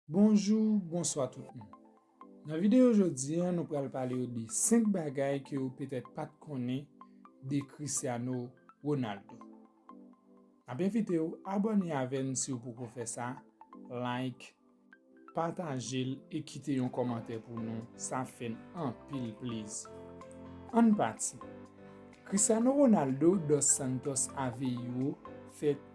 Bonjou, bonswa tout moun. Nan videyo jodi an nou pral pale yo de 5 bagay ke ou petèt pat konnen de Cristiano Ronaldo. Nap envite ou abòne avè n si ou poko fè sa, like, pataje l e kite yon kòmantè pou nou, sa ap fè n anpil plezi. Ann pati. Cristiano Ronaldo dos Santos Aveiro fèt.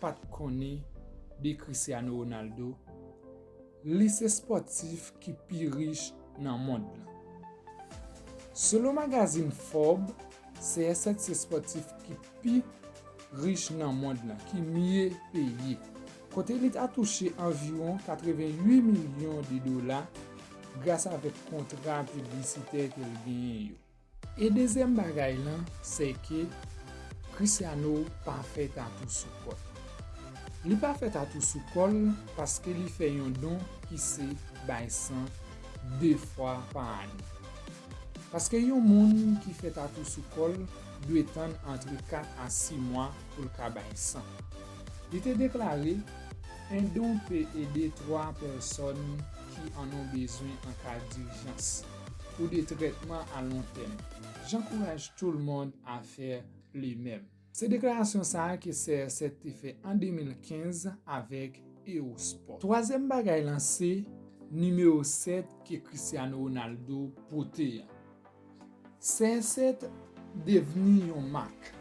pat konnen de Cristiano Ronaldo, li se spòtif ki pi rich nan mond lan. Selon magazin Forbes, CR7 se spòtif ki pi rich nan mond lan, ki mye peye, kote li ta touche anviwon 88 milyon de dola gras avèk kontra piblisitè ke l genyen yo. E dezyèm bagay lan se ke Christiano pa fè tatou sou kò l. Li pa fè tatou sou kò l paske li fè yon don ki se bay san 2 fwa pa ane. Paske yon moun ki fè tatou sou kò l dwe tann antre 4 a 6 mwa pou l ka bay san. Li te deklare, Un don peut aider 3 personnes qui en ont besoin en cas d'urgence. pou de trètman a lon tèm. J'encourage tout le monde à faire le même. Se deklarasyon sa a ke CR7 te fè an 2015 avèk Eosport. Twazyèm bagay lan se nimewo 7 ke Cristiano Ronaldo pote an. CR7 devni yon mak.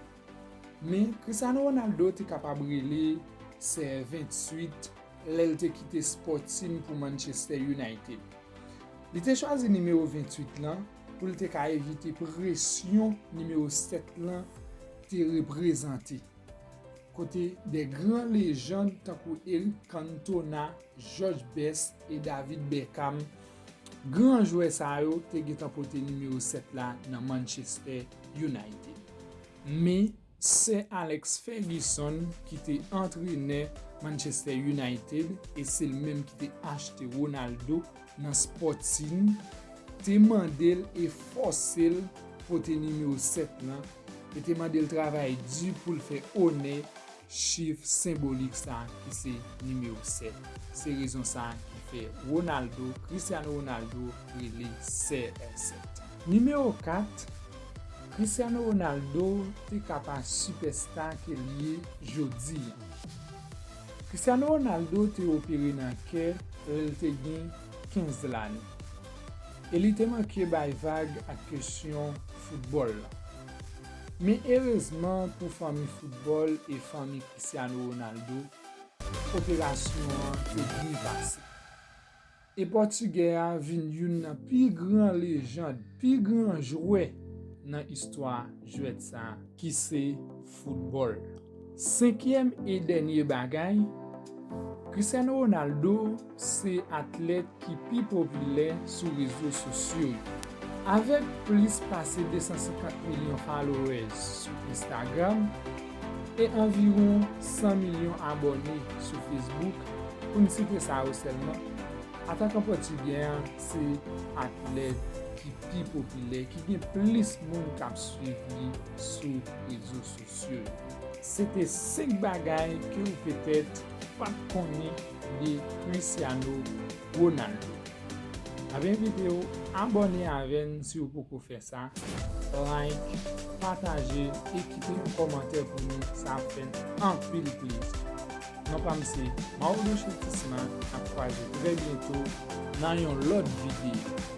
Men, Cristiano Ronaldo te kapab rele CR28 lè l te kite spò team pou Manchester United. Li te chwazi nimewo 28 lan pou l te ka evite presyon nimewo 7 lan te reprezante, kote de gran lejand tankou Eric Cantona, George Best e David Beckham Gran jwè sa yo te gentan pote nimewo 7 la nan Manchester United. Men, Sè Alex Ferguson ki te antrenè Manchester United e se l menm ki te achte Ronaldo nan Sporting te mande l e fòse l pote nimewo 7 lan e te mande l travay di pou l fè onè Chif senbolik sa ki se nimewo 7. Se rezon sa ki fè Ronaldo, Cristiano Ronaldo, rele CR7. Nimewo 4, Cristiano Ronaldo te ka pa sipèsta ke l ye jodi an. Cristiano Ronaldo te opere nan kè lè l te gen 15 lane e li te manke bay vag ak kesyon foutbòl lan. Men erezman pou fanmi foutbòl e fanmi Cristiano Ronaldo, operasyon an te byen pase. E pòtigè a vin youn nan pi gran lejand, pi gran jwè nan istwa jwèt sa ki se foutbòl. Senkyèm e dènye bagay, Cristiano Ronaldo se atlèt ki pi popilè sou rezo sosyo yo. Avèk plis pase 250 milyon followers sou Instagram e anviwon 100 milyon abòne sou Facebook, pou n site sa yo sèlman, atakan pòtigè an se atlèt ki pi popilè, ki gen plis moun k ap swiv li sou rezo sosyo. Mesye, se te 5 bagay ke ou petèt pat konnen de Cristiano Ronaldo. Nap envite w abòne avè n si w poko fè sa, like, pataje e kite yon kòmantè pou nou sa ap fè n anpil plezi. Non pa m se Mauro Chetisma, nap kwaze trè byento nan yon lòt videyo.